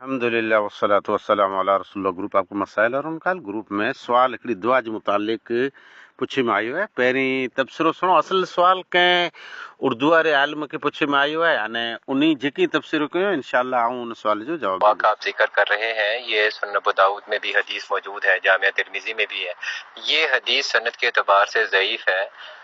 الحمد لله والصلوة والسلام علي رسول الله گروپ آپ ڪو مسائل اور انڪال گروپ ۾ سوال هڪڙي دعا جي متعلق پڇي ۾ آيو آهي پهرين تبصرو سڻو اصل سوال ڪنهن اردو واري عالم کي پڇي ۾ آيو آهي ان انهي جيڪي تبصرو ڪيو آهي انشاء الله آئون ان سوال جو جواب واقعا آپ ذڪر ڪر رهي هين يي سنن ابوداؤد ۾ ڀي حديث موجود هين جامع ترمذي ۾ ڀي هين يي حديث سند ڪي اعتبار سي ضعيف هين.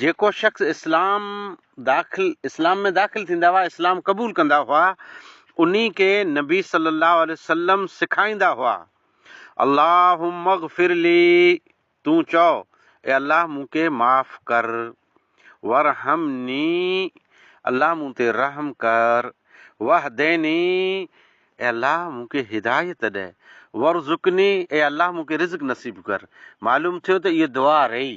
جيڪو شخص اسلام داخل اسلام ۾ داخل ٿيندا هئا اسلام قبول ڪندا هئا انهي کي نبي صلي الله عليه وسلم سکائيندا هئا اللهم اغفر لي تون چئو اي الله مون کي معاف ڪر ورحمني الله مون تي رحم ڪر وهديني اي الله مون کي هدايت ڏي ورزقني اي الله مون کي رزق نصيب ڪر معلوم ٿيو ته اهي دعا رهي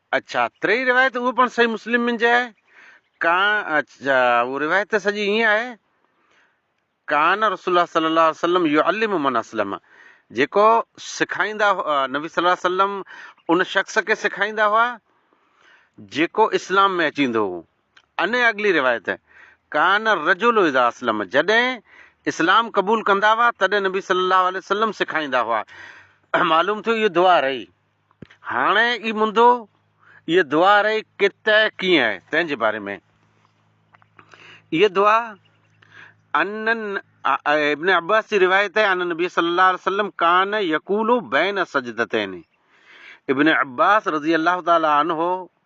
اڇا ٽي روايت اهو پڻ صحيح مسلم من جي آهي ڪان اڇا اهو روايت ته سڄي ائين آهي ڪان رسول الله صلي الله عليه وسلم يعلم من اسلم جيڪو سکائيندا نبي صلي الله عليه وسلم ان شخص کي سکائيندا هئا جيڪو اسلام ۾ اچي ايندو هو ان اڳلي روايت ڪان رجل اذا اسلم جڏهن اسلام قبول ڪندا هئا تڏهن نبي صلي الله عليه وسلم سکائيندا هئا معلوم ٿيو اهو دعا رهي هاڻي اي منڌو، ايء دعا رئي ڪيت ۽ ڪيئن آهي، تنهن جي باري ۾. ايء دعا ان ابن عباس جي روايت آهي ان النبي صلّي اللّٰه عليه وسلّم ڪان يقول بين السجدتين، ابن عباس رضي الله تعالٰي عنه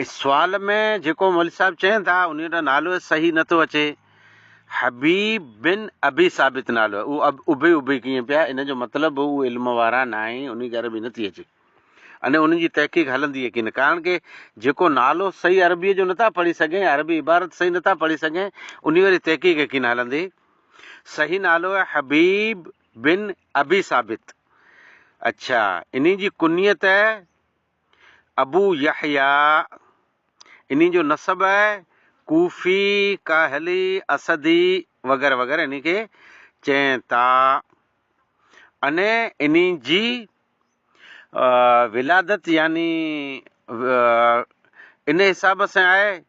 اس سوال ۾ جيڪو مولوي صاحب چين ٿا انهي جو نالو صحيح نه ٿو اچي حبيب بن ابي ثابت نالو اهو ابي ابي ڪيئن پيا ان جو مطلب اهو علم وارا نه آهن انهي کي عربي نه ٿي اچي اني انهن جي تحقيق هلندي ڪين ڪارڻ ڪي جيڪو نالو صحيح عربي جو نٿا پڙهي سگهين عربي عبارت صحيح نٿا پڙهي سگهين انهي واري تحقيق ڪين هلندي صحيح نالو آهي حبيب بن ابي ثابت اچھا انهي جي ڪنيت ابو يحيٰ، انهي جو نسب آهي، ڪوفي، ڪاهلي، اسدي وغيره وغيره انهي کي چين ٿا. انهي انهي جي ولادت يعني انهي حساب سان آهي.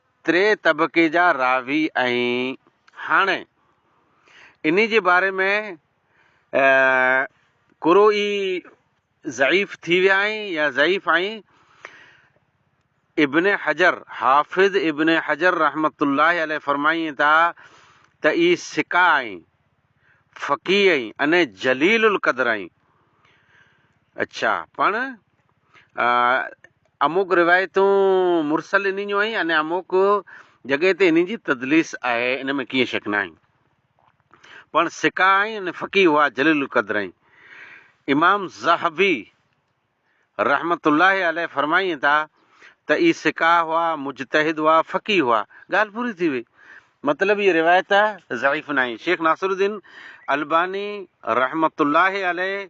تري طبقي جا راوي ۽ هاڻي انهي جي باري ۾ قرو ئي ضعيف ٿي ويا آهين يا ضعيف آهين ابن حجر حافظ ابن حجر رحمت الله عليه فرمائين ٿا ته اي ثقه آهين فقيه آهين اني جليل القدر آهين اڇا پڻ اموڪ روايتون مرسل انهن جون آهن ۽ اموڪ جڳهه تي انهن جي تدليس آهي ان ۾ ڪيئن شڪ ناهي پڻ سکا آهن ۽ فقيه هئا جليل القدر آهن امام ذهبي رحمت الله عليه فرمائين ٿا ته اي سکا هئا مجتهد هئا فقيه هئا ڳالهه پوري ٿي وئي مطلب هي روايت ضعيف ناهي شيخ ناصر الدين الباني رحمت الله عليه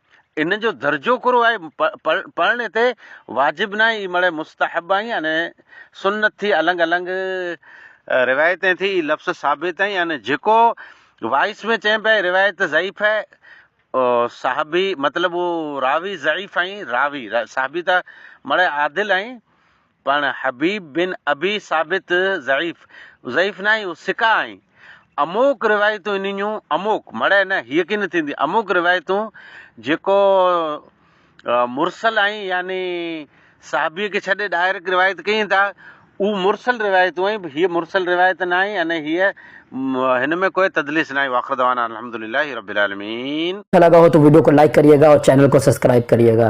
ان جو درجو ڪھڙو آھي؟ پڙھڻ ھتي واجب ناھي اھي مڙئي مستحب آھي يعني سنت ٿي النگ النگ روايتين ٿي اھي لفظ ثابت آھي يعني جيڪو وائس ۾ چئين پيا اھي روايت ضعيف آھي صحابي مطلب اھو راوي ضعيف آھي راوي صحابي ته مڙئي عادل آھي پڻ حبيب بن ابي ثابت ضعيف، ضعيف نه آهين، هو ثقه آهين. اموڪ روايتون انهن جون، اموڪ، مڙئي نه، هيء ڪين ٿيندي، اموڪ روايتون جيڪو مرسل آهين يعني صحابيء کي ڇڏي ڊائريڪٽ روايت ڪيين ٿا، اهو مرسل روايتون آهين، هيء مرسل روايت نه آهين ۽ هيء هن ۾ ڪوئي تدليس نه آهين واخر دعوانا ان الحمد لله رب العالمين. اچھا لگا ھو تو ويڊيو کو لائيڪ ڪريئي گا اور چينل کو سبسڪرائب ڪريئي گا.